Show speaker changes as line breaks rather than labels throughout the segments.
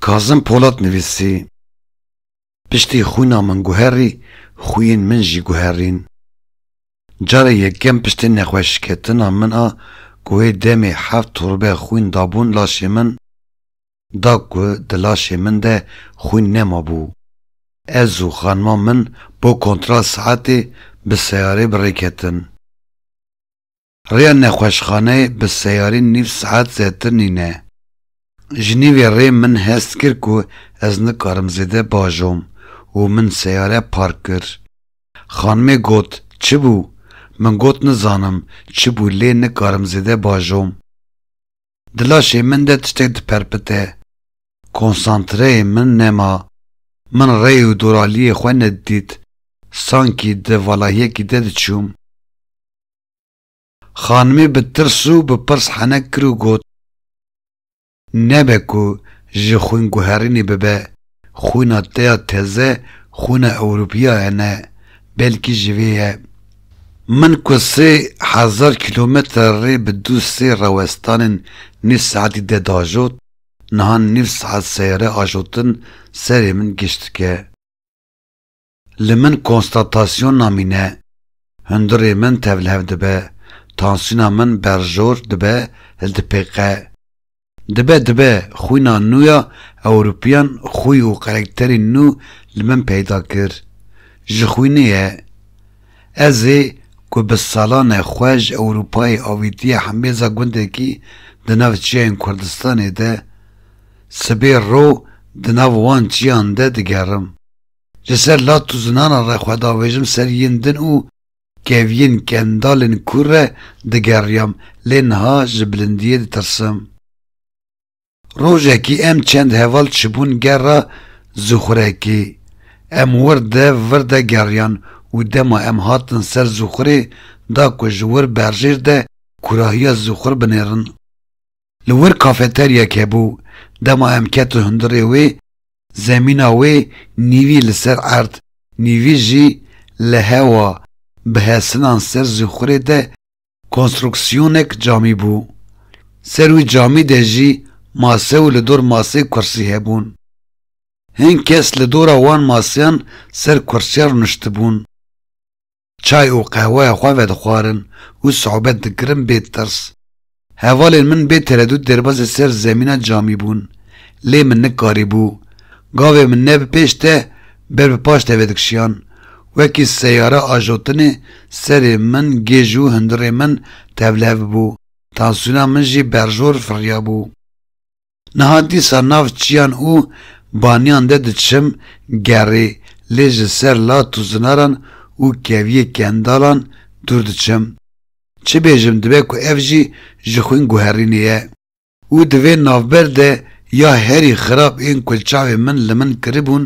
Kazim Polat nivîsî, Piştî xwîna min guherî, xwîyên min jî guherîn. Carê yekem piştî nexweşiketina min a ku wê demê heft torbe xwîn dabûn laşê min, da ku di laşê min de xwîn nemabû, ez û xanima min bo kontral saetê bi seyarê bi rê ketin. Rêya nexweşxaneyê bi seyarî nîv saet zêtir nîne. Ji nîvê rê min hest kir ku ez nikarim zêde bajom û min seyare park kir. Xanimê got, çi bû? Min got nizanim çi bû lê nikarim zêde bajom. Di laşê min de tiştek diperpite. Konsantreyê min nema. Min rê û doraliyê xwe nedidît. Sankî di valahiyekî de diçûm. Xanimê bi tirs û bi pirs henek kir û got, Nebe ku ji xwînguherînê bibe, xwîna te ya teze xwîna ewropiyae ne, belkî ji vê ye. Min ku sê hezar kîlometre rê bi du sê rawestanên nîv saetî de diajot, niha nîv saet seyare ajotin serê min giş dike. Li min konstatasyon namîne. Hundirê min tevlihev dibe, tansiyona min berjor dibe li dipêqe. Dibe dibe xwîna nû ya Ewropiyan xwî û karakterî nû li min peyda kir. Ji xwînê ye. Ez ê ku bi salan e xwe ji Ewropayê avîtiye hembêza gundekî di nav çiyayên Kurdistanê de, sibê ro di nav wan çiyan de digerim. Ji ser lat û zinanan re xwe davêjim ser yên din û keviyên kendalên kûr re digeriyam, lê niha ji bilindiyê ditirsim. Rojekî em çend heval çibûn gerra Zûxurekê. Em wir de vir de geriyan û dema em hatin ser Zûxurê da ku ji wir berjêr de kûrahiya Zûxur binêrin. Li wir kafeteryek hebû, dema em ketin hundirê wê, zemîna wê nîvî li ser erd, nîvî jî li hewa bi hesinan ser zîxurê de konstruksîyonek camî bû. Ser wî camî de jî mase û li dor masê kursî hebûn. Hin kes li dora wan maseyan ser kursiyan rûniştibûn. Çay û qehweya xwe vedixwarin û sohbet dikirin bê tirs. Hevalên min bê teredût derbasê ser zemîna camî bûn, lê min nikarîbû. Gavê min ne bi pêş te ber bi paş te vedikişiyan. Wekî seyare ajotinê serê min, gêj û hundirê min tevlihev bû. Tansiyona min jî berjor firiyabû. Niha dîsa nav çiyan û baniyan de diçim, gerê lê ji ser lat û zinaran û keviyê kendalan dûr diçim. Çi bêjim dibe ku ev jî ji xwîn guherînê ye. Û di vê navber de ya herî xirab ên ku çavên min li min kiribûn,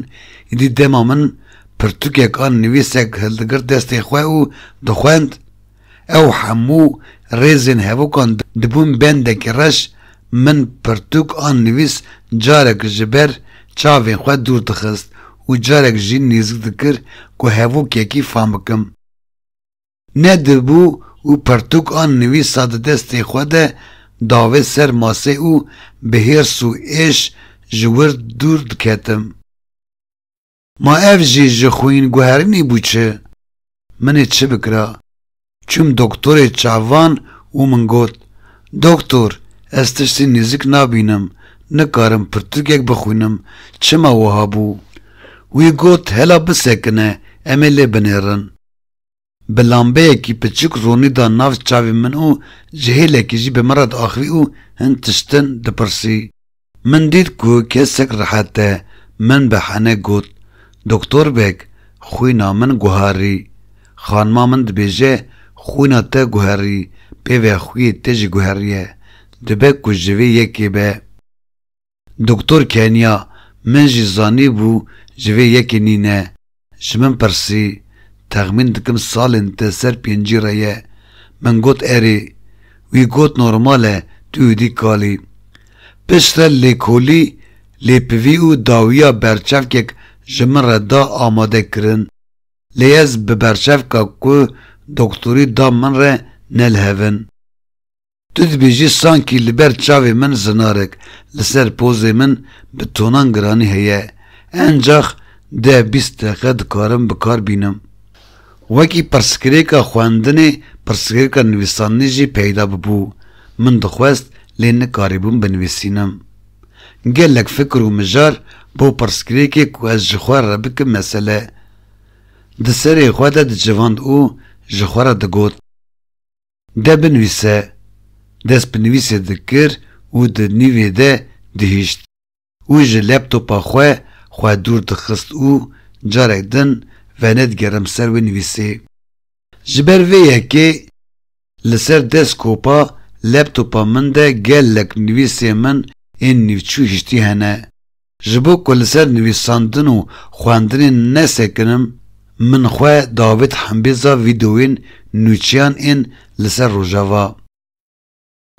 îdî dema min pirtûkek an nivîsek hildigirt destê xwe û dixwend, Ew hemû rêzên hevokan dibûn bendekî reş, min pirtûk an nivîs carek ji ber çavên xwe dûr dixist û carek jî nêzik dikir ku hevokekî fam bikim. Ne dibû û pirtûk an nivîsa di destê xwe de davê ser masê û bi hêrs û êş ji wir dûr diketim. Ma ev jî ji xwînguherînê bû çi? Min ê çi bikira? Çûm doktorê çavan û min got, Doktor, ez tiştî nêzik nabînim, nikarim pirtûkek bixwînim, çima wiha bû? Wî got, Hela bisekine, em ê lê binêrin. Bi lambeyekî piçûk ronî da nav çavên min û ji hêlekî jî bi min re diaxivî û hin tiştin dipirsî. Min dît ku kesek rehet e, min bi hene got, Doktor beg, xwîna min guherî. Xanima min dibêje, Xwîna te guherî, pêve xwîyê te jî guherîye. Dibe ku ji vê yekê be. Doktor Kenya, Min jî zanîbû ji vê yekê nîne. Ji min pirsî, Texmîn dikim salên te ser pêncî re ye. Min got erê. Wî got normal e, tu êdî kalî. Piştre lêkolî, lêpivî û dawiya berçavkek ji min re da amade kirin. Lê ez bi berçavka ku doktorî da min re nelhevin. Tu dibêjî sankî li ber çavê min zinarek li ser pozê min bi tonan giranî heye, encax deh bîst deqe dikarim bi kar bînim. Wekî pirsgirêka xwendinê pirsgirêka nivîsandinê jî peyda bibû, min dixwest lê nikarîbûm binivîsînim. Gelek fikir û mijar bo pirsgirêkê ku ez ji xwe re bikim mesele di serê xwe de dicivand û ji xwe re digot. De binivîse. Dest bi nivîsê dikir û di nîvê de dihişt û ji laptopa xwe xwe dûr dixist û carek din venedigerim ser wê nivîsê. Ji ber vê yekê li ser deskopa laptopa min de gelek nivîsên min ên nîvçû hiştî hene. Ji bo ku li ser nivîsandin û xwendinê nesekinim, min xwe davêt hembêza vîdeoyên nûçiyan ên li ser Rojava.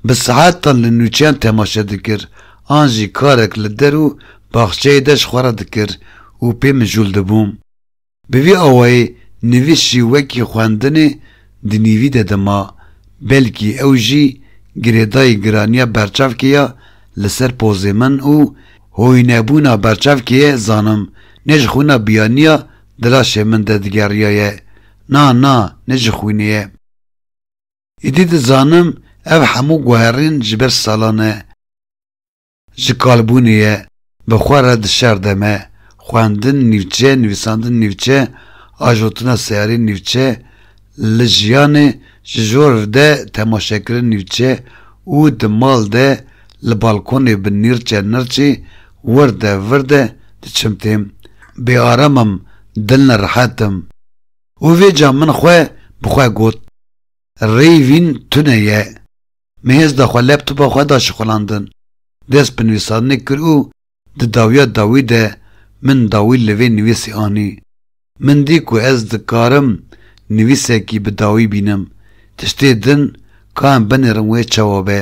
Bi saetan li nûçiyan temaşe dikir an jî karek li der û baxçeyê de ji xwe re dikir û pê mijûl dibûm. Bi vî awayî nivîs jî wekî xwendinê di nîvî de dima, belkî ew jî girêdayî giraniya berçavkê ya li ser pozê min û hoînebûna berçavkê ye zanim ne ji xwîna biyaniya di laşê min de digeriyaye na na ne ji xwînê ye. Îdî dizanim ev hemû guherîn ji ber salan e. Ji kalbûnê ye, bi xwe re dişerde me, xwendin nîvçe, nivîsandin nîvçe, ajotina seyarî nîvçe, li jiyanê ji jor de temaşekirin nîvçe û di mal de li balkonê bi nîrçe nirçê wirde virde diçim têm. Bêaram im, dilnerehet im. Û vê ca min xwe bi xwe got, Rêyvîn tune ye. Mihêz da xwe laptopa xwe da şixulandin, dest bi nivîsandinê kir û di dawiya dawî de min dawî li vê nivîsê anî. Min dî ku ez dikarim nivîsekî bi dawî bînim. Tiştê din ka em binêrin wê çawa be.